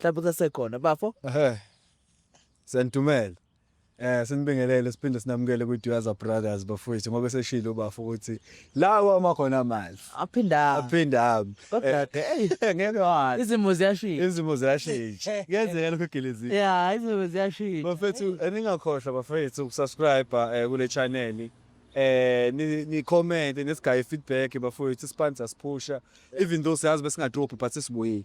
mhlawumbe kusasekhona bafo ehe sendumela eh sinibingelele siphinde sinamukele ku Duaza Brothers bafowethu ngoba seshilo ubafo ukuthi lawa uma khona amanzi aphinda aphinda kodwa ke hey Eh, ngeke wazi izimo ziyashintsha izimo ziyashintsha kuyenzeka lokho gelezini ya izimo ziyashintsha bafethu eh, ningakhohlwa bafethu ukusubscribe eh, kule channel eh ni- ni-comment nisigaye feedback bafowethu isipanza siphusha even though siyazi besingadrophi but sisibuyile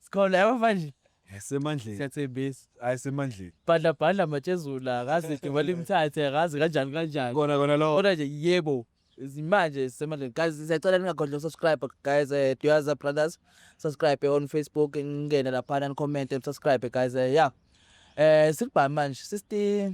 Sikhona yabo manje. Semandleni. Siyathembisa. Hayi semandleni. Bhadla bhadla matshezula akaze igcuma limthathe akaze kanjani kanjani. Kona kona lo. Kodwa nje yebo manje sisemandleni guys siyacela ningagodli ukusubscribe guys eh, duyaza brothers subscribe on facebook ngingene laphana nicommente nisubscribe guys eh, ya um sikubhami manje sisti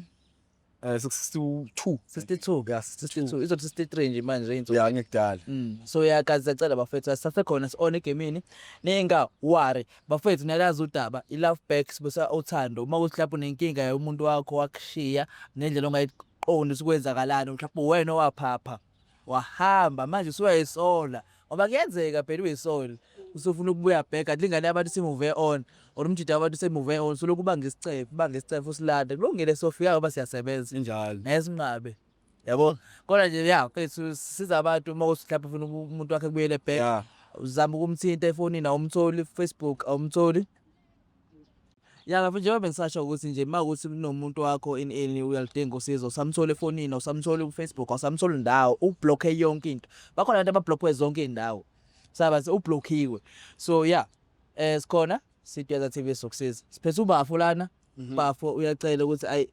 Eh 62. 62. Yeah, 62. Izothi 63 nje manje inzo. Yeah, ngikudala. Mm. So yakazi sacela bafethu asisasekhona sione gemini. Ninga worry. Bafethu niyalazi udaba i love back sibusa uthando. Uma ukuthi lapho nenkinga yomuntu wakho wakushiya nendlela ongayiqondi sikwenzakalani mhlawumbe wena owaphapha. wahamba manje usuyayisola ngoba kuyenzeka phela uyisole usufuna ukubuya back kanti ingane yabantu simove on or umjida wabantu semove on solokhu ubanga isicefe ubanga isicefe usilanda kulungile sofika ngoba siyasebenza injalo nesinqabe yabo kodwa nje ya mfethu siza abantu uma uthi mhlawumbe ufuna uku- umuntu wakhe kubuyele back yeah. uzama ukumthinta efonini awumtholi facebook awumtholi Ya ngabe njengoba bengisasho ukuthi nje uma ukuthi kunomuntu wakho in any uyalidinga usizo usamthola efonini awusamthola ku-Facebook awusamthola ndawo ublockhe yonke into bakhona abantu abablockwe zonke izindawo saba ublockiwe so yeah eh sikhona sitweza TV sokusiza siphethe ubafo lana mhm. bafo uyacela ukuthi ayi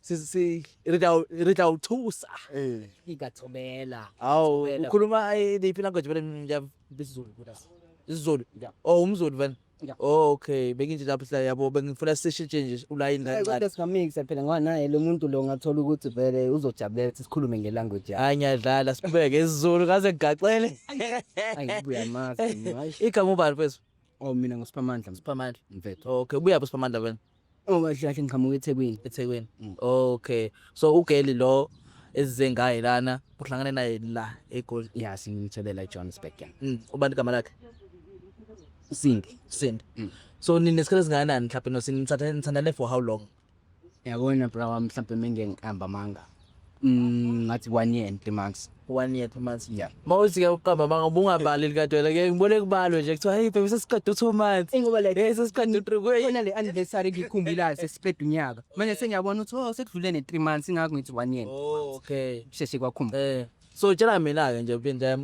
sisi re tla o thusa ee ke ka thobela ao ukhuluma liphi language vele mina isizulu isizulu oh umzulu vele Oh okay benginje lapho sila yabo bengifuna sishintshe nje ulayini kancane. Kodwa singamikisa phela ngoba naye lo muntu lo ngathola ukuthi vele uzojabulela ukuthi sikhulume nge language yakhe. Hayi ngiyadlala sibeke isiZulu kaze ngigaxele. Hayi ngibuya mazi. Igama ubani mfethu? Oh mina nguSiphamandla. Siphamandla. Mfethu. Okay ubuya phi Siphamandla wena? Oh kahle kahle ngiqhamuka eThekwini. eThekwini Mm. okay so ugeli lo ezize ngaye lana uhlangane naye la egoli Yeah, singimthelela eJohannesburg. yeah. Mm, ubani igama lakhe Sindi. Sindi Mm. so ninesikhathi esingakanani mhlawumbe nosinithatha nithandane for how long Yabona bra wami mhlampe mengengihamba manga. Mm, ngathi one year and three months one year two months yeah mawuthi ke uqamba manga ubungabali likadwela ke ngibone kubalwe nje kuthiwa hey baby sesiqeda two months ingoba like hey sesiqeda three kuye yona le anniversary ngikhumbulayo sesiqeda unyaka manje sengiyabona ukuthi oh sekudlule ne three months ingakho ngithi one year oh okay sheshe kwakhumba eh so tshela mina ke nje phinde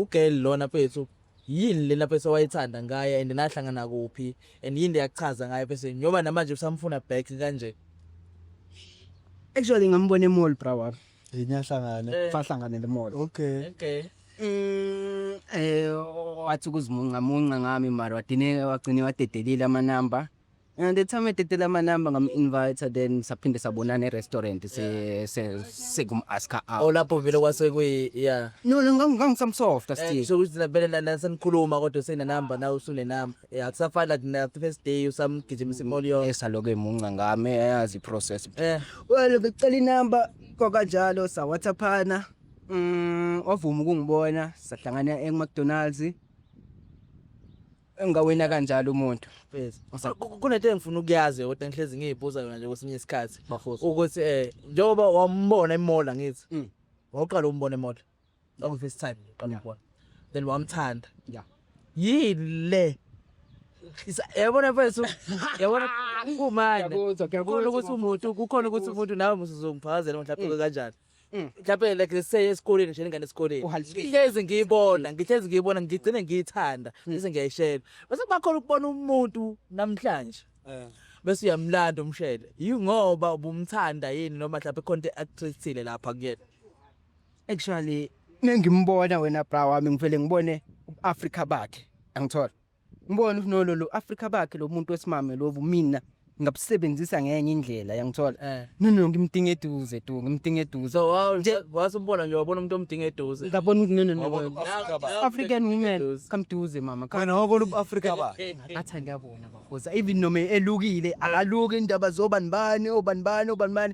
ugirl lona phethu yini lena pese wayithanda ngaye and nahlangana kuphi and yini leyakuchaza ngaye pese nyoba namanje usamfuna back kanje actually ngambona emall bra wami ngiyahlangana eh. fahlangana lemall okay okay mm eh wathi kuzimunca munca ngami mara wadine wagcine wadedelile amanamba And the time ededela amanamba ngam-invite then saphinde sabonana e-restaurant se- se- sekum-aska out Oh lapho vele kwase kuyi yeah. no no ngang- ngangisamsofta Eh, still so ukuthi vele na- na- senikhuluma kodwa usenenamba nawe usunenamba. Eh akusafani like na the first day usamgijimisa imoli yonke. esaloke emunca ngami eyazi i-process Eh well becela inamba kwakanjalo sawhatsaphana um wavuma ukungibona sahlangana ema-mcdonalds engawina kanjalo umuntu Yes. Sa- ku- ku- kunento engifuna ukuyazi kodwa engihlezi ngiyibuza yona nje kwesinye isikhathi Bafosi. ukuthi eh njengoba wambona emola ngithi Mm. wawuqala umbona emola oku first time uqala Yeah. umbona then wamthanda Yeah. yile Isa- yabona mfethu yabona kumanje Ngiyakuzwa, ngiyakuzwa, kukhona ukuthi umuntu kukhona ukuthi umuntu nawe musuzongifakazela mhlawumbe kanjani Mm. mhlawumbe like let's say esikoleni nje ingane esikoleni Uhalisile. ngihlezi ngiyibona ngihlezi ngiyibona ngigcine ngiyithanda Mm. bese ngiyayishela bese kuba khona ukubona umuntu namhlanje Eh. bese uyamlanda umshele yingoba ubumthanda yini noma mhlawumbe khona into actress thile lapha kuyena Actually nengimbona wena bra wami ngivele ngibone uAfrica bakhe. Angithola. Ngibona ukuthi nolo lo Africa bakhe lo muntu wesimame lobu mina ngabusebenzisa ngenye indlela yangithola eh. no no ngimdinga eduze tu ngimdinga eduze so wow nje wasubona nje wabona umuntu omdinga eduze ngabona ukuthi no no no African women come duze mama wena wabona ubu Africa ba athi ngiyabona bafoza even noma elukile akaluki indaba zobanibani obanibani obanibani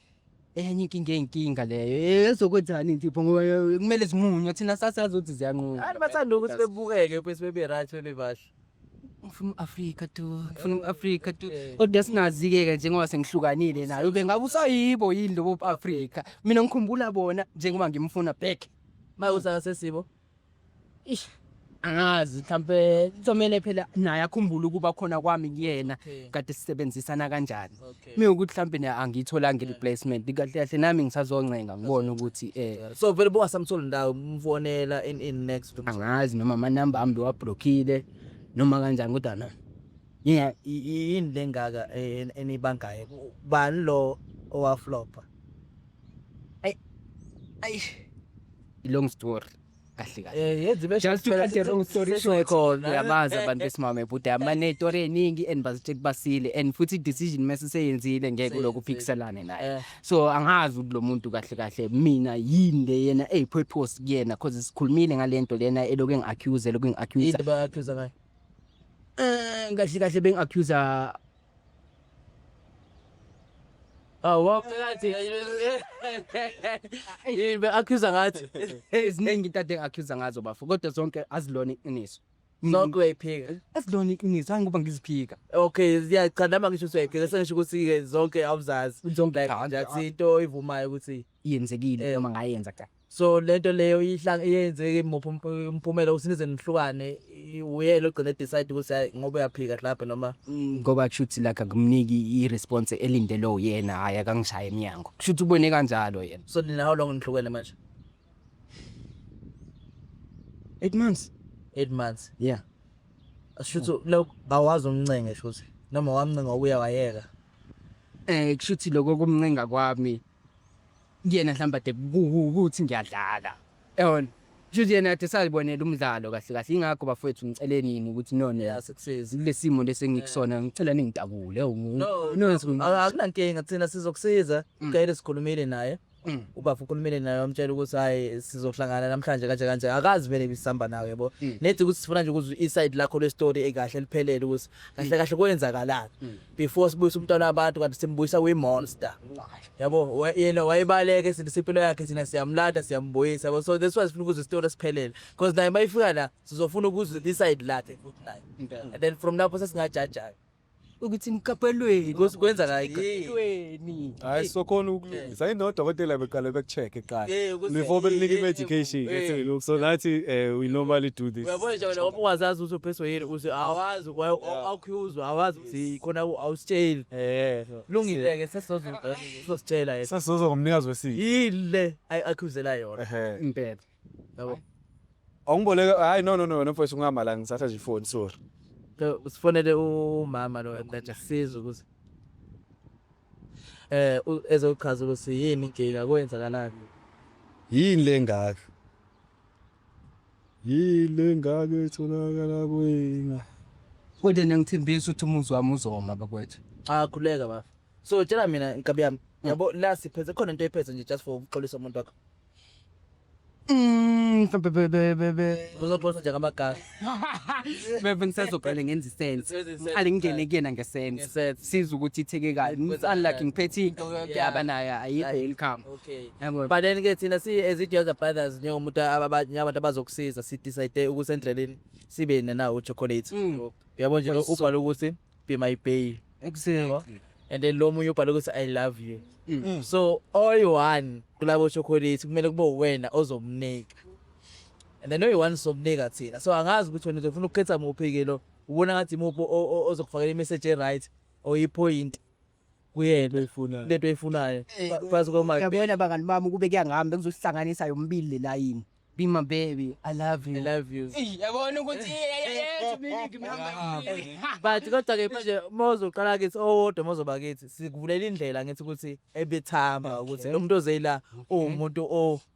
enye inkinga eyinkinga leyo ezokwenzani nje pho ngoba eh, kumele zimunywe thina sasazi ukuthi ziyanquma Abantu bathanda ukuthi bebukeke bese bebe right bebe bahle. ngifuna u-afrika tu ngifuna u-afrika tu Eh. kodwa singazi-ke-ke njengoba sengihlukanile nayo ube ngabe usayibo yini lobo afrika mina ngikhumbula bona njengoba ngimfuna back Maye usaka sesibo. Ish angazi mhlambe kuzomele phela naye akhumbule ukuba khona kwami kuyena Okay. kade sisebenzisana kanjani. Okay. Mina ukuthi mhlambe naye angiyitholanga i-replacement kahle kahle nami ngisazoncenga ngibone ukuthi eh So vele bowasamthola ndawo umfonela in in next to angazi noma amanamba ami bewablockile noma kanjani kodwa na. Yeah, i- i- yini lengaka eh, enibangayo bani lo owaflopa Ay. Ay. Long story. kahle kahle eh yenza ibe just to cut the long story short uyabazi abantu besimame bhuti amane story eningi and bazithe kubasile and futhi decision mase seyenzile ngeke lokhu phikiselane naye eh. so angazi ukuthi lo muntu kahle kahle mina yini le yena ey purpose kuyena cause sikhulumile ngalento lena eloku engi accuse eloku engi accuse yini ba accuse ngayo eh kahle kahle bengi accuse Awuwa phakathi. Yini be accuser ngathi. Eziningi into ade accuser ngazo bafo kodwa zonke azilona iqiniso. Zonke uyayiphika. Azilona iqiniso hayi ngoba ngiziphika. Okay, ziyachanda mangisho usuyayiphika sengisho ukuthi ke zonke awuzazi. Zonke Like kanjani? that's into oyivumayo ukuthi yenzekile Eh. noma ngayenza cha so lento leyo ihlanga iyenzeke muphi ump- umphumela ukuthi nize nihlukane i- uyena ogcine decide ukuthi hayi ngoba uyaphika mhlawumbe noma Mm, ngoba kushuthi like akumniki i-response elindele uyena hhayi akangishaye emnyango kushuthi ubone kanjalo yena so nina how long nihlukene manje eight months eight months yeah shuthi lo bawazi umncenge shuthi noma wamncenga ubuya wayeka um kushuthi loko kumncenga kwami kuyena mhlawumbe ade ukuthi ngiyadlala yabona Futhi yena ade salibonela umdlalo kahle kahle ingakho bafowethu ngicele nini ukuthi none kulesimo lesengikusona ngicela ningidabule akunankinga thina sizokusiza mm. kayile sikhulumile naye mm. ubaba ukhulumile naye wamtshela ukuthi hayi sizohlangana namhlanje kanje kanje akazi vele bisihamba nawe yabo mm. nethi ukuthi sifuna nje ukuzwa i-side lakho le-story ekahle liphelele ukuthi kahle kahle kwenzakalani before sibuyisa umntwana wabantu kanti simbuyisa kwi-monster yabo yena wayebaleke sithi simpilo yakhe thina siyamlanda siyambuyisa yabo so that's why sifuna ukuze isitori esiphelele because naye uma ifika la sizofuna ukuzwa isayidi lakhe futhi naye and then from lapho sesingajajayo ukuthi niqaphelweni kwenzakani hayi sokhona sayinodokotela beqale bekucheck eqala Eh, ukuze- before bekunika eh, eh, i-medication eh, ethi look so nathi eh, we normally do this uyabona nje wena ngoba ungazazi ukuthi uphethwe yini uze awazi awukhuzwa awazi ukuthi khona u- awusitsheli eh lungile-ke sesizozositshela yena sasizozwa ngomnikazi wesiko yile ayi- akhuzela yona ehe impela Yabo. Awungiboleke hayi no no no wena mfowethu ungama la ngisatha nje ifoni sorry. So, usifonele umama lo and that asizwe ukuthi eh u- ezochaza ukuthi yini inkinga kwenzakalani Yini lengaka? Yini lengaka etholakala kwina? Kodwa nengithembisa ukuthi umuzi wami uzoma bakwethu. akhuleka bafo so tshela mina nkabi yami hmm. yabo la siphethe khona into ephethe nje just for ukuxolisa umuntu wakho Mm, uzoxoxa nje ngamagama bebe ngisazoqale ngenza isense ngiqale ngingene kuyena ngesense siza ukuthi itheke kabi unlike ngiphethe into yaba naye ayikho income but then ke thina si as it yours brothers njengomuntu abanye abantu abazokusiza si decide ukuthi endleleni sibe nena uchocolate mm. uyabo nje ubhala ukuthi be my babe ekuseko and then lo munye ubhale ukuthi i love you Mm. so oyi-one kulabo chocolate kumele kube uwena ozomnika and then oyi-one somnika thina so angazi ukuthi wena uzofuna ukukhetha muphi-ke lo ubona ngathi muphi o- o- ozokufakela imeseji e-right or iphoyinti kuyena into oyifunayo lento oyifunayo phansi kwamanje yabona bangani bami ukube kuyangihamba bengizosihlanganisa yombili le layini be my baby i love you i love you yabona ukuthi but kodwa ke manje mozoqala kithi owodwa mozoba kithi sikuvulela indlela ngithi ukuthi ebethamba ukuthi lo muntu ozeyila uwumuntu o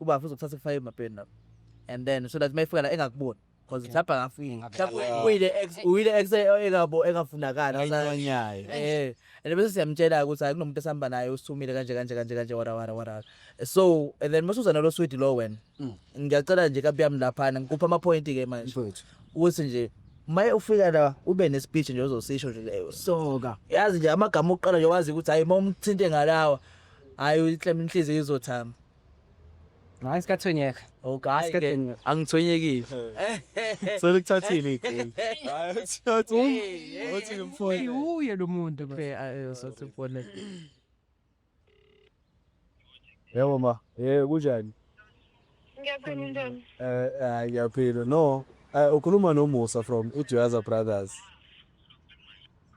Ubafo uzokuthatha kufake emapeni lapho. And then so that mayifika la engakuboni. Cause mhlawumbe angafika. Mhlawumbe uyile ex uyile ex engabo engafunakala. Ayinonyayo. Eh. And bese siyamtshela ukuthi hayi kunomuntu esihamba naye usithumile kanje kanje kanje kanje wara wara wara. So and then masuza nalo swidi lo wena. Mm. Ngiyacela nje kabi yami laphana ngikupha ama point ke manje. Mfowethu. Ukuthi nje maye ufika la ube ne speech nje ozosisho nje leyo. Soka. Yazi nje amagama okuqala nje wazi ukuthi hayi uma umthinte ngalawa hayi uyiklema inhliziyo izothamba. Hayi sikathonyeka. Oh guys ke angithonyekile. So likuthathile igame. Hayi uthathu. Uthi ngimfone. Uye lo muntu ke ayosathi ubone. Yebo ma, eh kunjani? Ngiyaphila njani? Eh eh ngiyaphila. No, eh ukhuluma noMusa from Uduyaza Brothers.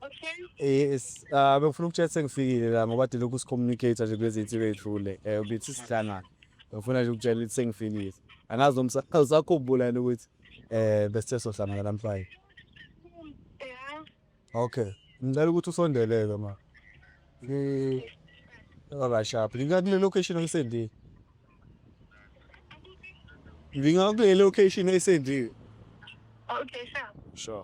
Okay. Yes, uh, bengifuna ukutshela sengifikile la ngoba de lokhu sicommunicate nje kulezi insuku ezidlule. Eh ubithi sihlangana. Bengifuna nje ukutshela ukuthi sengifikile. Angazi noma usa- usakhumbula yini ukuthi eh besithe sohlangana namhlanje. Yeah. Okay. Ngicela ukuthi usondeleke ma. Ngi Alright sharp. Ngika kule location oyisendile. Ngika kule location oyisendile. Okay, sure. Sure.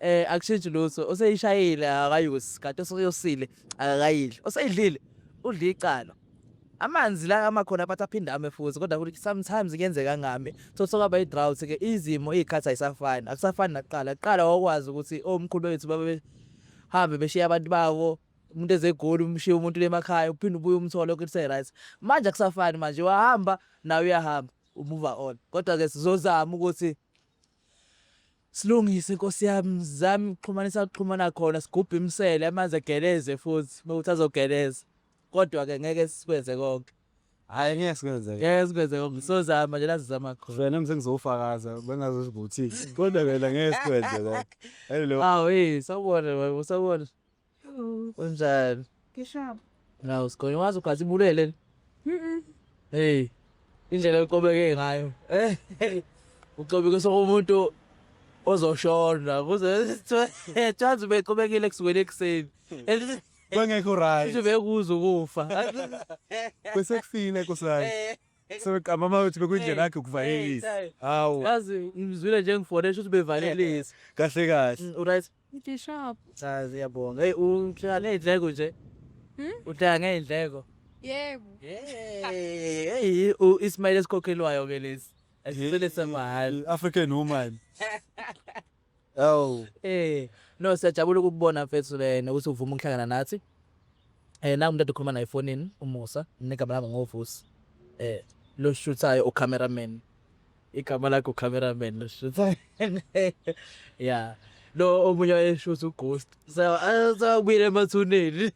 Eh akushintshi lutho oseyishayile akayusi kanti oseyosile akakayidli oseyidlile udla icala amanzi la amakhona bathi aphinde ame futhi kodwa kuthi sometimes kuyenzeka ngami so sokwaba i-drought ke izimo iy'khathi ayisafani akusafani nakuqala kuqala wawukwazi ukuthi omkhulu bethu babehambe beshiye abantu babo umuntu ezegoli umshiye umuntu lemakhaya uphinde ubuye umthole ukuthi se-right manje akusafani manje wahamba nawe uyahamba umuva on kodwa-ke sizozama ukuthi Silungise nkosi yami zami ukuxhumanisa kuxhumana khona sigubhe imisele amanzi egeleze futhi uma ukuthi azogeleza kodwa ke ngeke sikwenze konke hayi ngeke sikwenze ngeke sikwenze konke sozama nje lazizama khona vele mse ngizofakaza bengazozivuthile kodwa vele ngeke sikwenze konke hello awu hey sawubona sawubona Wenzani? Ngishaba. Nawu sikhona wazi ugathi ibulele. Mhm. Hey. Indlela eqobeke ngayo. Eh. Uxobike sokumuntu ozoshona kuze thanzi beqobekile kusukela ekuseni. Kwengekho right. Kusho bekuza ukufa. Bese kufile kusani. Eh. So kamama uthi bekuyindlela yakhe ukuvalelisa. Hawu. Yazi ngizwile nje ngifonesha uthi bevalelisa. Kahle kahle. Mm, Uright. Ngishop. Cha siyabonga. Hey uhlala nezindleko nje. Hmm? Uhlala ngezindleko. Yebo. Hey, u Ismail esikhokhelwayo ke lesi. Asicele semahhala. African woman. Awu. Eh, no siyajabula ukubona mfethu le nokuthi uvuma ukuhlangana nathi. Eh, nangu umuntu okhuluma naye efonini, uMusa, negama lami ngoVusi. Eh, lo shuthayo ucameraman. igama lakho cameraman lishutha ya lo omunye wayeshutha ughost sawubuyile emathuneni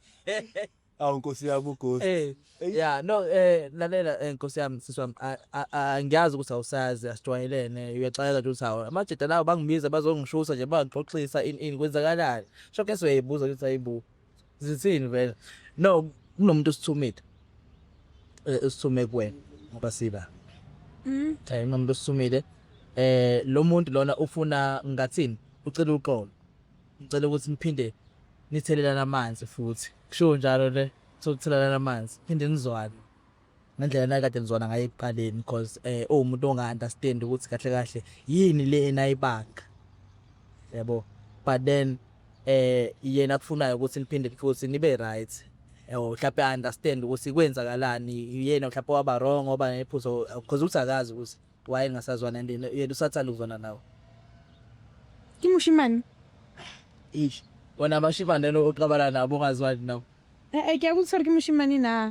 awu nkosi yami ughost eh ya no eh lalela eh, nkosi yami sisi wami a- a- a- ngiyazi ukuthi awusazi asijwayelene uyaxayeka nje ukuthi hawu amajita lawo bangibiza bazongishutha nje bangixoxisa ini ini kwenzakalani shokese uyayibuza ukuthi ayibu Zithini vele? No, kunomuntu osithumile. Eh usithume kuwena ngoba siba. Mm. Eh kunomuntu osithumile. Eh lo muntu lona ufuna ngathini? Ucela uxolo. Ngicela ukuthi niphinde nithelelana amanzi futhi. Kusho njalo le sokuthelelana amanzi. Phinde nizwane. ngendlela nayikade nizwana ngayo ekuqaleni because eh uwumuntu onga-understand ukuthi kahle kahle yini le enayibanga yabo but then eh yena kufunayo ukuthi niphinde futhi nibe right yabo mhlawumbe i-understand ukuthi kwenzakalani yena mhlawumbe waba wrong oba nephuzo because ukuthi akazi ukuthi wayengasazwana and yena usathanda ukuzwana nawe kimushimani ish wona abashimane lo oqabala nabo ongazwani nawo Eh, eh, ke a go tshware ke moshimane na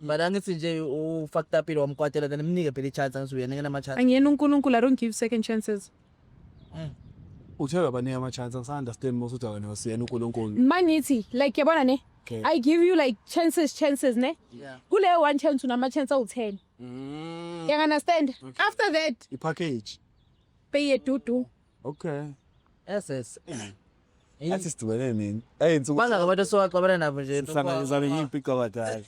Mara angithi nje ufaktapile wamkwatela then mnike phela i-chance angithi uyena engena ama-chance. Angiyena uNkulunkulu, I don't give second chances. Uthe baningi ama-chance angisa-understand mos uthi wena usiyena unkulunkulu Uma ngithi like yabona ne Okay. I give you like chances chances ne Yeah. kuleyo one chance unama-chance awu-ten Mm. yanga-understand after that ipackage beyedudu Okay. SS. Athi sidibene nini? Hey insuku. Bangaka abantu esiwaxabana nabo nje. Sihlanganyisana ngiyimpica badala.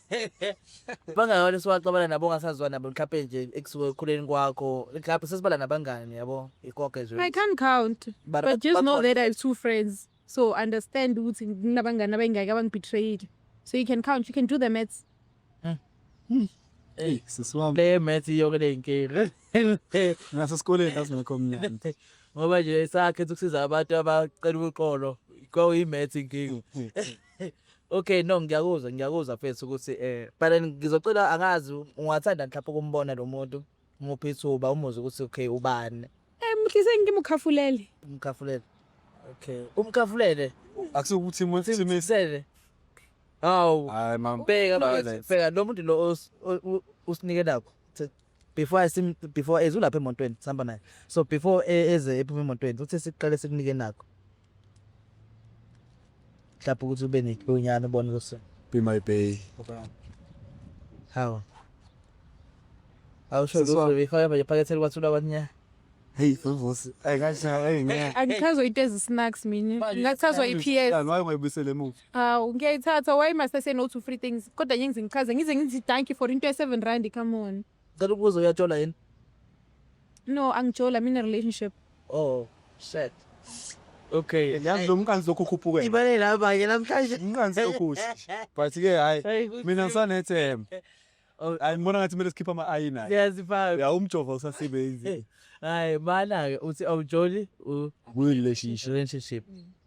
Bangaka abantu esiwaxabana nabo ongasazwa nabo mhlawumbe nje ekusuke ekukhuleni kwakho. Mhlawumbe sesibala nabangani yabo. Ikoke nje. I can't count. But, but just know that I have two friends. so understand ukuthi kunabangani abayingaki abangibetrayile so you can count you can do the maths Hey, sisi wami. Le math iyoke le nkinga. Ngasesikoleni ngazingekho mnyama. Ngoba nje sakhe ukusiza abantu abacela uxolo kwakuyi math inkinga. Okay no ngiyakuzwa ngiyakuzwa mfethu ukuthi eh but ngizocela angazi ungathanda mhlawumbe ukumbona lo muntu Nguphi ithuba umuzwa ukuthi okay ubani? Eh mhlise ngimukhafulele. Umkhafulele. Okay. Umkhafulele. Akusukuthi muthimisele. Hawu. Hayi mama. Bheka bheka lo muntu lo usinike nakho. Before I sim before ezulapha emontweni sihamba naye. So before e, eze ephuma emontweni uthi siqale sikunike nakho. mhlawumbe ukuthi ube nethunyana ubone ukuthi be my bay hawu awusho lutho befaka manje phakethe likwathuba kwanya Hey, vuvusi. Ay kanjani? Ay ngeke. Angichazwa into ezisinacks mina. Ngakuchazwa iPS. Kanti waye ungayibuyisele emuva. Hawu ngiyayithatha why must I say no to free things? Kodwa ngiyengize ngichaze ngize ngithi thank you for into ye-7 rand come on. Ngicela ukubuza uyajola yini? No, angijola, I'm in a relationship. Oh, shit. Okay. Yazi lo mqanzi lokhu ukhuphuke. Ibale la banye namhlanje. Umqanzi okuhle. But ke hayi mina ngisanethemba. Oh. Hayi ngibona ngathi kumele sikhiphe ama ayi naye. Siyazifaka. Ya umjova usasebenzi. Hayi mana ke uthi awujoli u relationship. Relationship.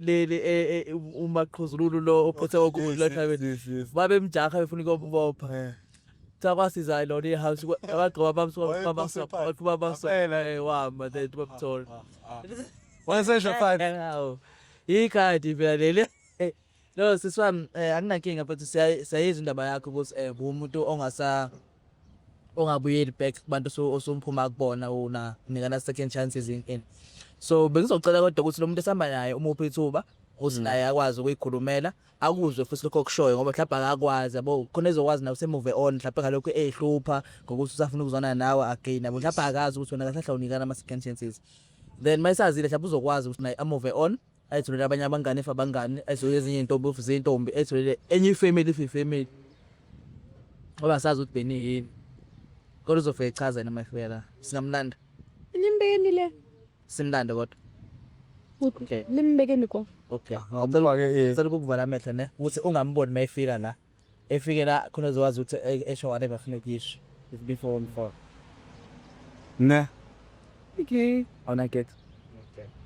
leli umaqhuzululu lo ophethe okulathabeni babemjaha befuna ukubopha sakwasiza lona ihouse abagqiba bamsaqhuba bamsela wama then bamthola wayesesho fine ikhadi phela leli no siswami anginankinga but siyayizwa indaba yakho ukuthi um umuntu ongasa ongabuyeli back kubantu osumphuma kubona una nikana second chances in in so bengizocela kodwa ukuthi lo muntu esihamba naye umuphi ithuba ukuthi naye akwazi ukuyikhulumela akuzwe futhi lokho kushoyo ngoba mhlawumbe akakwazi yabo khona ezokwazi nawe semove on mhlawumbe ngalokho ehlupha ngokuthi usafuna ukuzwana nawe again yabo mhlawumbe akazi ukuthi wena kahlahla unikana ama second chances then mayisazile mhlawumbe uzokwazi ukuthi naye amove on ayitholele abanye abangani if abangani ayitholele ezinye iy'ntombi if ziyintombi ayitholele enye ifamily if ifamily ngoba asazi ukuthi beni yini kodwa uzofika echaza yena mayifela singamlanda Limbekeni le. simlande kodwa Okay. Limbekeni ko. okay Amfake, eh. cela ukukuvala amehlo ne ukuthi ungamboni mayifika la efike la khona uzokwazi ukuthi e- esho whatever afuna ukuyisho It's before and for ne okay awuna get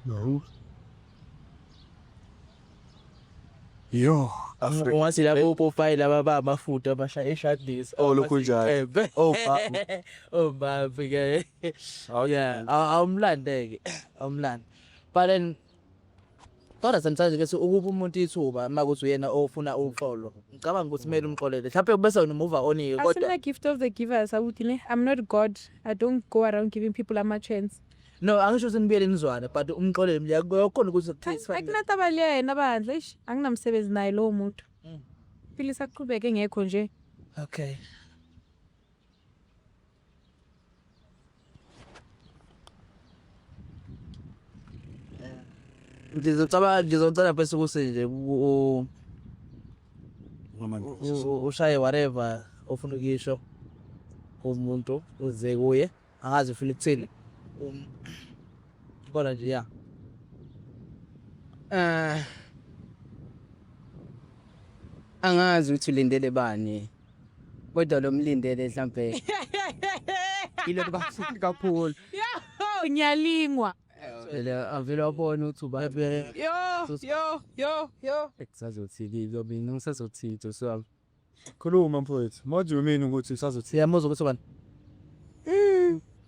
No. Yo, Africa. ungathi labo opopayi laba ba amafuta abashaya ishadlisa Oh, lokhu njalo. Oh, ba- oh babi ke yeah aw- awumlande-ke awumlande but then Kodwa sometimes ke ukupha umuntu ithuba uma kuthi uyena ofuna uxolo. Ngicabanga ukuthi kumele umxolele. Mhlawumbe kube sewunomuva onike kodwa. Asina gift of the givers awuthi ne I'm not God. I don't go around giving people ama chance. No, angisho ukuthi nibuyele nizwane but umxolele mliya kuyokhona ukuthi kuthi. Akunataba liya yena bandla. Eish, anginamsebenzi naye lowo muntu. Mm. Philisa aqhubeke ngekho nje. Okay. ngizocaba ngizocela bese ukuthi nje u- u- ushaye whatever ofuna ukuyisho umuntu uze kuye angazi ufuna ukuthini Um, kodwa nje ya Eh, angazi ukuthi ulindele bani Kodwa lo mlindele mhlampe yilo kubafundi kakhulu. Yahoo, ngiyalingwa. Vele avele wabona ukuthi uba Yo, yo, yo, yo. sazothini lo mina ngisazothini Josi wami. Khuluma mfowethu. What do you mean ukuthi usazothi? Siyamuzwa ukuthi ubani?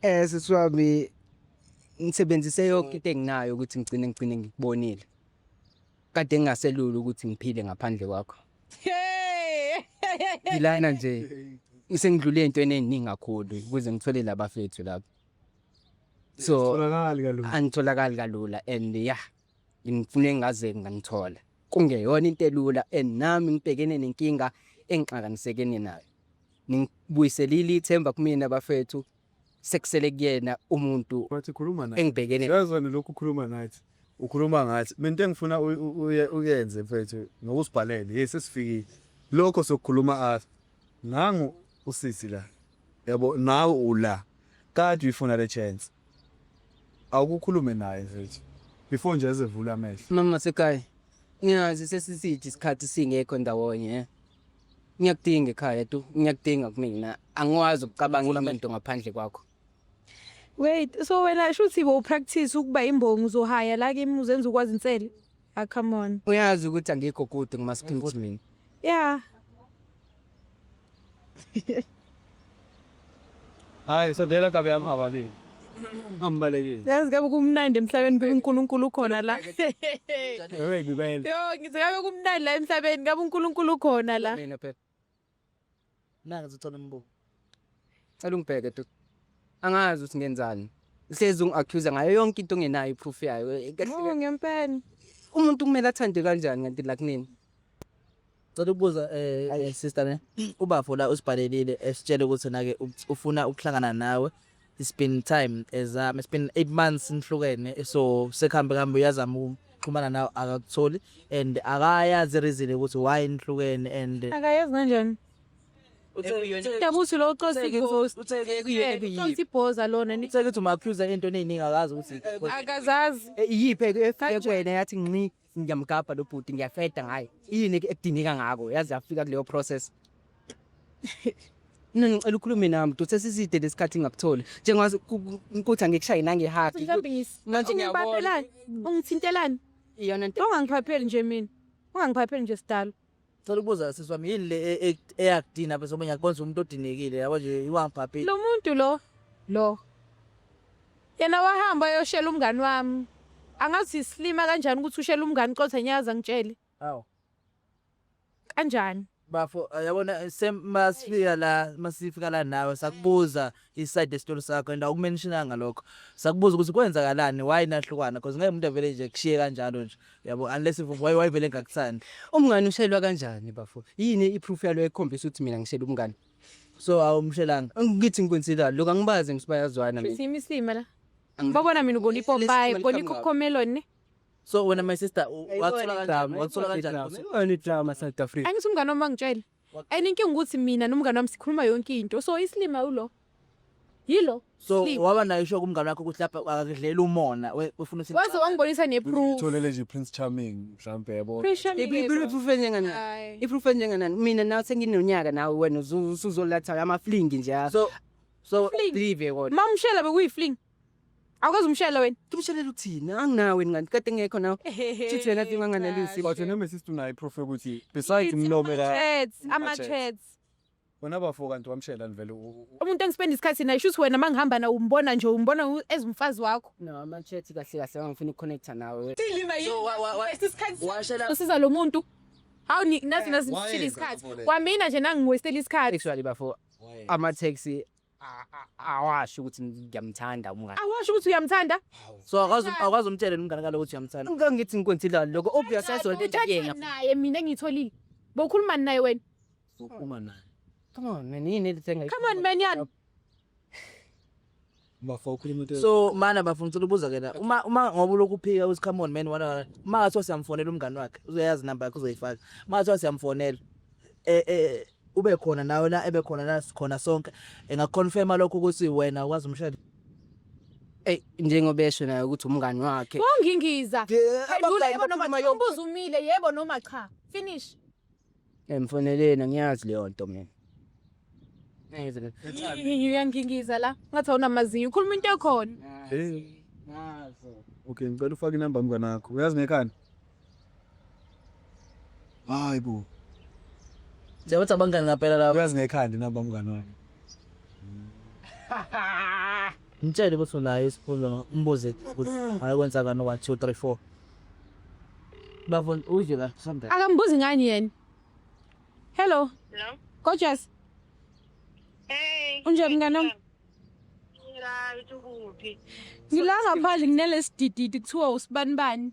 Eh sisi wami ngisebenzise yonke into enginayo ukuthi ngigcine ngigcine ngikubonile. Kade ngingaselula ukuthi ngiphile ngaphandle kwakho. Ilana nje isengidlule entweni eziningi kakhulu ukuze ngithole labafethu lapho. So Tholakali kalula. angitholakali kalula and yeah ngifune ngaze ngangithola. Kungeyona into elula and nami ngibhekene nenkinga engixakanisekene nayo. Ningibuyiselile ithemba kumina bafethu sekusele kuyena umuntu Wathi khuluma naye. engibhekene Uyazona lokhu ukhuluma nathi. Ukhuluma ngathi. Mina into engifuna u- u- uye- uyenze mfethu nokusibhalele. Yes sesifikile. Lokho sokukhuluma athi nangu usisi la. Yabo nawe ula. Kade uyifuna le chance. Awukukhulume naye mfethu. Before nje ezevula amehlo. mama sekhaya ngiyazi sesisithi isikhathi singekho ndawonye eh. ngiyakudinga ekhaya tu ngiyakudinga kumina angikwazi ukucabanga enye into ngaphandle kwakho wait so wena shuthi bowupractice ukuba imbongi uzohaya la kimi uzenza ukwazi insele ah come on uyazi ukuthi angikho kude ngimasiphimthi mina yeah Hayi sondela kabi yami ababili. Ambalekile. Yazi kabe kumnandi emhlabeni kabe uNkulunkulu ukhona la. Wewe ngibele. Yo ngithi kabe kumnandi la emhlabeni kabe uNkulunkulu ukhona la. Mina phela. Nanga zithola umbuko. Cela ungibheke tu. Angazi ukuthi ngenzani. Uhlezi ungi-accuse ngayo yonke into ongenayo iproof yayo. Kahle- Ngoba ngempela. Umuntu kumele athande kanjani kanti la kunini? Cela ukubuza eh, Ayi. eh, sister ne ubafo la usibhalelile esitshele ukuthi nake u- ufuna ukuhlangana nawe it's been time ezama it's been 8 months nihlukene so sekuhambe kambe uyazama ukuxhumana nawe akakutholi and akayazi reason ukuthi why nihlukene and akayazi kanjani dabuthi lo ucosile inkosi ucosi ibhoza lona ni- uthe ukuthi uma accuser into eningi akazi ukuthi akazazi iyiphe ekwena yathi nci ngiyamgabha lo bhuti ngiyafeda ngaye yini ekudingeka ngako yazi yafika kuleyo process mina ngicela ukhulume nami bhuti sesiside lesikhathi ngakutholi njengazi ukuthi angikushayi nangehaki manje ngiyabona ungithintelani iyona nto ongangiphapheli nje mina ungangiphapheli nje sidalo Cela ukubuza sisi wami yini le e- e- eyakudina bese omunye akubonza umuntu odinekile yabo nje iwangibhabhile. Lo muntu lo lo yena wahamba ayoshela umngani wami. Angazi isilima kanjani ukuthi ushela umngani qotha nyaza ngitshele Hawu. kanjani. Bafo yabona same masifika la masifika la nawe sakubuza i side yestory sakho and awukumentionanga lokho sakubuza ukuthi kwenzakalani why nahlukana because ngeke umuntu avele nje kushiye kanjalo nje yabo unless if why why vele ngakuthandi umngani ushelwa kanjani bafo yini i proof yalo ekhombisa ukuthi mina ngishela umngani so awumshelanga ngithi ngikwenzela lokho angibazi ngisibayazwana mina Simi sima la. Ngibabona mina ubona ipopayi, ubona ikhomelon ne. so wena my sister u- wathola kanjani wathola kanjani Yini drama South Africa? Angithi umngane wami angitshele. and inkinga ukuthi mina nomngane wami sikhuluma yonke into so isilima ulo yilo so Sleep. waba nayo isho kumngane wakho ukuthi lapha akakudlela umona we- wefuna ukuthi waze wangibonisa neproof Tholele nje Prince Charming mhlambe yabo. Pressure me lezo. iproof enjenganani Hayi. iproof enjenganani mina nawe senginonyaka nawe wena usu- usuzolatha amaflingi nje ah. so so Fling. live kodwa mamshela bekuyifling Awukaze umshele wena. Ngimshelele uthini? Anginawe ngani kade ngekho nawe. Chithi wena tinga nganelisi. But noma sister unayi proof ukuthi besides mlome la. Chats, ama chats. Wena bafo kanti wamshela nivele umuntu engispenda isikhathi naye shuthi wena mangihamba na umbona nje umbona as umfazi wakho. No ama chats kahle kahle ngifuna ukuconnect nawe. Silima yini? Isikhathi. Washela. Usiza lo muntu. Hawu nathi nazi ngishila isikhathi. Kwamina nje nangiwestela isikhathi. Actually bafo ama taxi awasho ukuthi ngiyamthanda umngane awasho ukuthi uyamthanda so akwazi akwazi umtshela umngane kaloku ukuthi uyamthanda ngeke ngithi ngikwenzile lokho obvious ayizona into yena naye mina engitholile bowukhuluma naye wena ukhuluma naye come on man yini elithenga come on man yani bafo ukhuluma into so mana bafo ngicela ubuza ke la uma uma ngoba lokhu phika uthi come on man wana uma ngathiwa siyamfonela umngane wakhe uzoyazi number yakhe uzoyifaka uma ngathiwa siyamfonela eh eh Ube khona nawe la ebe khona la sikhona sonke. Engakuconfirma lokho ukuthi wena ukwazi umshado. Ey njengoba esho naye ukuthi umngani wakhe. Bongingiza. Yeah, Phendula abangani yebo noma bakhuluma cha. yonke- Umbuzo umile yebo noma cha. Finish. Emfoneleni angiyazi leyo nto mina. Ngize ngithi, Uyangingiza la. Ngathi awunamazinyo. Ukhuluma into ekhona. Hey. Ngazo. Okay, ngicela ufake inamba mngane wakho. Uyazi ngekhanda? Hayi bo. Njengokuthi abangani ngampela laba. Uyazi ngekhanda nabo bamngani wami. Mtshele ukuthi unayo isifundo umbuze ukuthi ayokwenza kani 1 2 3 4. Bafo udle la something. Akambuzi ngani yena? Hello. Hello. Gorgeous. Hey. Unjani mngane wami? Ngila ngithukuthi. Ngila ngaphandle kunelesidididi kuthiwa usibanibani.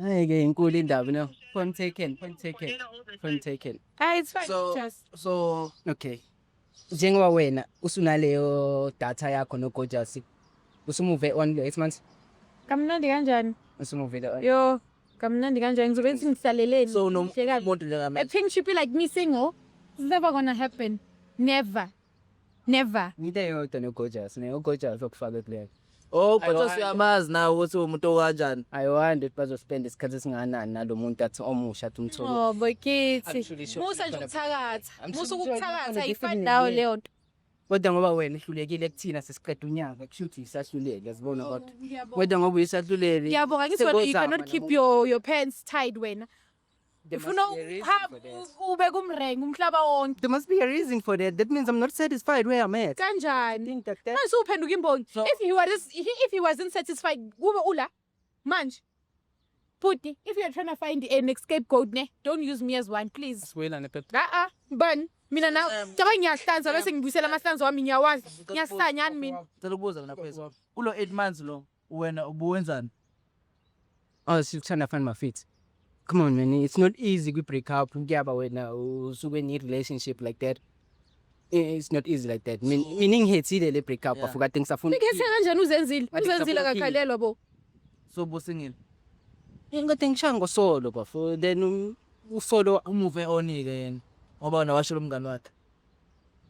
Hayi ke inkulu indaba no. Point taken, point taken. Point taken. Ah it's fine. So just so okay. Njengoba wena usunaleyo data yakho no Gorgeous. Usumuve on lo Xmans? kamnandi kanjani? Usumuve lo. Yo, kamnandi kanjani? Ngizobe ngithi ngihlaleleni. So no Ngihlekazi. muntu njengamanje. A pink should be like me saying, oh, it's never gonna happen. Never. Never. Into eyodwa noGorgeous, ne uGorgeous okufake kulelo. Oh, but Ayiwande. usuyamazi nawe ukuthi umuntu okanjani. I wonder ukuthi bazospenda isikhathi esingakanani nalo muntu athi omusha athi umthole. Oh, bokithi. Actually, sure. Musa nje ukuthakatha. I'm Musa so sorry, ukuthakatha kodwa ayifani nje nawe sibili. leyo nto. Kodwa ngoba wena ihlulekile kuthina sesiqeda unyaka kushuthi isahluleli yazibona kodwa. Kodwa ngoba uyisahluleli. Ngiyabonga ngithi wena you sengozama cannot keep nabo. your your pants tied wena. There If you must know, be a reason have, for that. ube kumrengi umhlaba wonke. There must be a reason for that. That means I'm not satisfied where I'm at. Kanjani? Think that that- Manje uphenduka imbongi. So- If he was if he wasn't satisfied, kube ula. Manje. Puti, if you're trying to find an escape goat ne, don't use me as one, please. Siwela nepep. Ah ah, ban. Mina na, Um, caba ngiyahlanza bese ngibuyisela amahlanzo wami ngiyawazi. Ngiyasanya mina. Ngicela ukubuza mina kwezi. Kulo 8 months lo. Wena ubuwenzani? Oh sikuthanda fani mafithi. Come on man, it's not easy kwi break up kuyaba wena usuke ni relationship like that. Eh, It's not easy like that. Min- Mina ngihethile le break up Yeah. afuka things afuna. Nikhethe kanjani uzenzile? Ngathi Uzenzile kusafuna akakhalelwa bo. So busingile. Ingathi ngishaya ngosolo bafo then um, usolo Umuve onike yena. Ngoba wena washo lo mngani wakhe.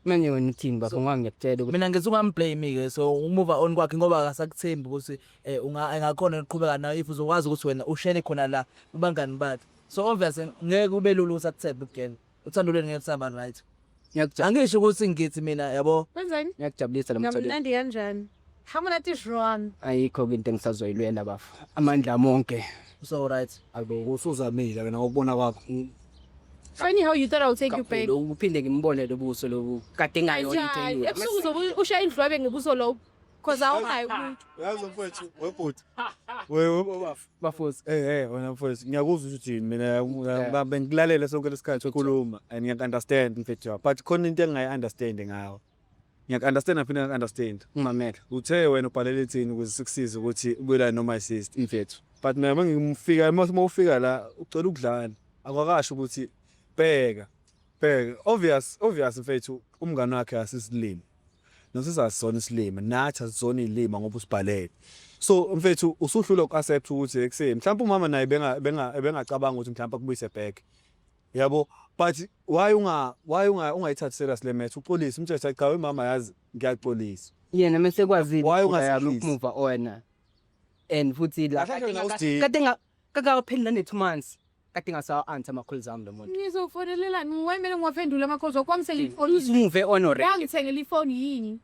manje wena uthini bafo ngoba ngiyakutshela ukuthi mina ngithi ungamblame ke so umuva on kwakhe ngoba akasakuthembi ukuthi eh unga engakhona ukuqhubeka nayo if uzokwazi ukuthi wena ushele khona la kubangani bakhe so obvious ngeke kube lula ukuthi akuthembe ukugena uthando lwenu ngeke lusaba right ngiyakujabulisa angisho ukuthi ngithi mina yabo Wenzani? ngiyakujabulisa lo mthondo Ngamnandi kanjani? Hamuna tishwan. Ayikho ke into engisazoyilwela bafo. Amandla ami onke. So right. Ayibo usuzamile ke nakubona kwakho. Funny how you thought I would take you back. Kakhulu, Uphinde ngimbone lobuso lobu kade ngayo into Kanjani? eyiyo. Ebusuku zobe ushaya indlwabe ngebuso lobo. Cause awunayo umuntu. Yazi mfowethu webhuti. Wewe bafo. Bafosi. Eh eh wena mfowethu ngiyakuzwa ukuthi yini mina ngiba- bengilalele sonke lesikhathi ukhuluma and ngiyaku understand mfethu wakho but khona into engayi understand ngawe. Ngiyaku-understand ngaphinde ngaku-understand. Ngimamele. Uthe wena ubhalele ithini ukuze sikusize ukuthi ubuyelane no-my sister. Mfethu. But mina uma ngimfika, uma uma ufika la, ucela ukudlala. Akwakasho ukuthi bheka, bheka. Obvious, obvious mfethu, umngane wakhe asisilimi. Nosisi asisona isilima, nathi asisona iy'lima ngoba usibhalele. So mfethu, usuhlulwa uku-accept ukuthi ekuseni. Mhlawumpe umama naye benga- benga- ebengacabanga ukuthi mhlawumpe akubuyise back. Yabo but why unga why unga ungayithathi serious le match uxolise umthetho cha wemama yazi ngiyaxolisa yena mese kwazile Why ukuthi I look ungasidlisi? move wena and futhi la Kahle nje nawusidinga. kade nga kakapheli nane 2 months kade ngasawa answer ama calls ami lo muntu Ngizofonelelani? Wayimele ngiwaphendule amakhosi wakho wamsela ifoni. uzimuve on already Wangithengela ifoni yini?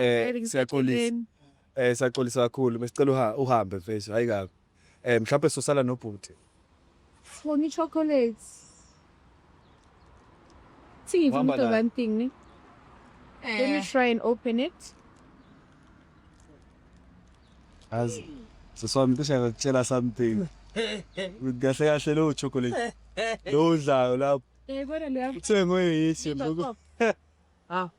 Eh siyaxolisa. Eh siyaxolisa kakhulu. Besicela uhambe mfethu, hayi kabi. Eh mhlawumbe sosala nobhuti. Sifuna ichocolate. See if you do one thing, ne? Eh. Let me eh. try and open it. As so so I'm just gonna tell us something. Kahle kahle lo chocolate. Lo udlayo lapho. Eh kodwa lo. Uthengwe yithi. Ah.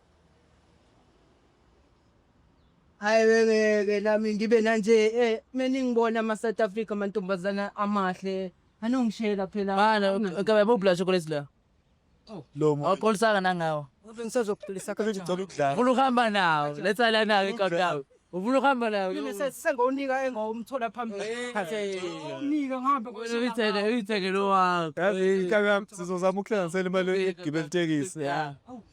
Hayi wengeke nami ngibe nanje eh meningibona ama South Africa amantombazana amahle anongishela phela Bana kabe bubla chocolate la. Lo muntu Awuqolisanga nangawo. Ave ngisazokuphilisa ngicela kanjani ukudlala. Ufuna ukuhamba nawo. Letha la nawo iqoqawo. Ufuna ukuhamba nawo. Mina se- sengowunika engawumthola phambili nika ngihambe Wena uyithenge uyithenge lo wakho. Yazi inkabi yami sizozama ukuhlanganisela imali yokugibela itekisi. Yeah.